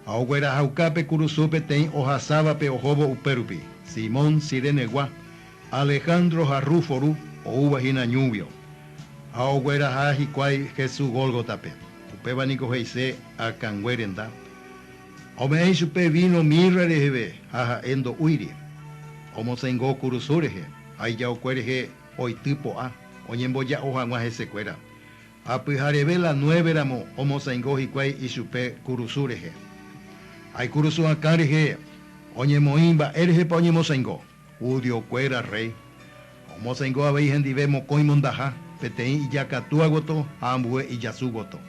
Ha oguerahauka pe kurusu peteĩ ohasávape ohóvo upérupi, Simón Cirenegua, Alejandro ha Rufo ru, oúva hína ñúguio. Ha ogueraha hikuái Hesu Gólgotape, upéva niko he'ise Akãngue renda. Ha ome'ẽ ichupe víno mirra reheve ha ha'e ndo'úiri. Omosẽngo kurusu rehe ha ijaokue rehe oity po'a, oñemboja'o hag̃ua hesekuéra. Ha pyhareve la nueve ramo omosãingo hikuái ichupe kurusu rehe. Ha ikurusu akã rehe oñemoĩ mba'érehepa oñemosãingo, judío kuéra rréi. Ha omosãingo avei hendive mokõi mondaha, peteĩ ijakatúa gotyo ha ambue ijasu gotyo.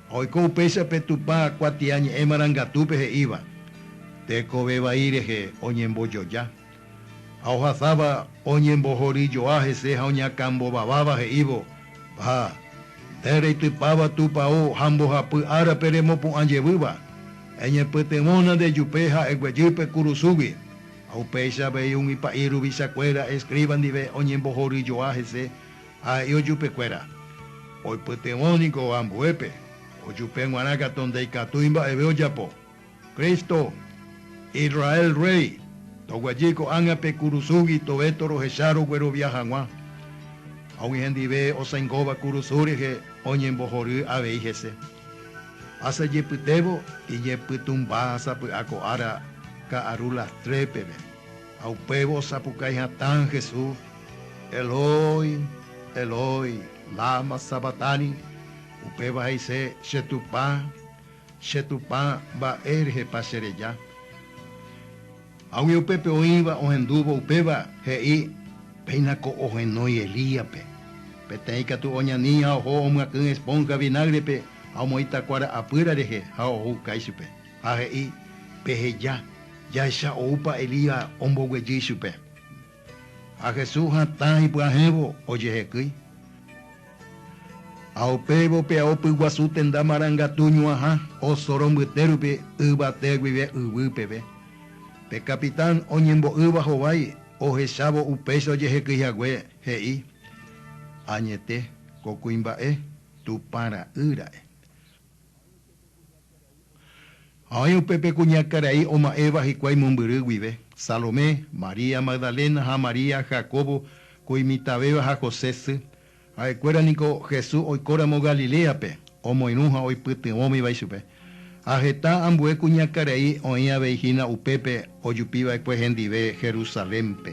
Ha oiko upéichape Tupã kuatia ñe'ẽ marangatúpe he'íva, Tekove vai rehe oñembojoja, Ha ohasáva oñembohory joa hese ha oñakãmbovaváva he'ívo, Ha, nde reitypáva Tupao ha mbohapy árape remopu'ã jevýva, eñepytyvõna nde jupe ha eguejy pe kurusúgui. Ha upéicha avei umi pa'i ruvicha kuéra escriba ndive oñembohory joa hese ha he'ívo jupe kuéra, Oipytyvõ niko ambuépe, ojupe g̃uarã katu ndaikatúi mba'eve ojapo. Cristo, Israel Rréi, toguejy ko'ág̃a pe kurusúgui tove torohecha roguerovia hag̃ua. Ha umi hendive osãingóva kurusú rehe oñembohory avei hese. Asajepytévo iñepytũmba sapy'a ko ára ka'aru lastre peve, ha upévo osapukái hatã Jesús, Eloi, Eloi, lama sabactani? upéva he'ise, Che Tupã, Che Tupã, mba'e rehepa che reja? Ha umi upépe oĩva ohendúvo upéva he'i, Péina ko ohenói Elíape. Peteĩ katu oñani ha oho omyakỹ esponja vinágrepe ha omoĩ takua ra'apýra rehe ha ohuka ichupe. Ha he'i, Peheja, jahecha oúpa Elías omboguejy ichupe. Ha Jesús hatã ipyahẽvo ojehekýi. Ha upéivo pe ao pyguasu tenda marangatu ñuãha osoro mbyte rupi yvate guive yvy peve. Pe capitán oñembo'ýva hovái ohechávo upéicha ojehekýi hague, he'i, Añete, ko kuimba'e Tupã Ra'y ra'e. Ha oĩ upépe kuñakarai oma'ẽva hikuái mombyry guive, Salomé, María Magdalena ha María, Jacobo ko imitãvéva ha José sy. Ha'ekuéra niko Jesús oikóramo Galiléape, omoirũ ha oipytyvõmiva ichupe. Ha heta ambue kuñakarai oĩ avei hína upépe ojupiva'ekue hendive Jerusalénpe.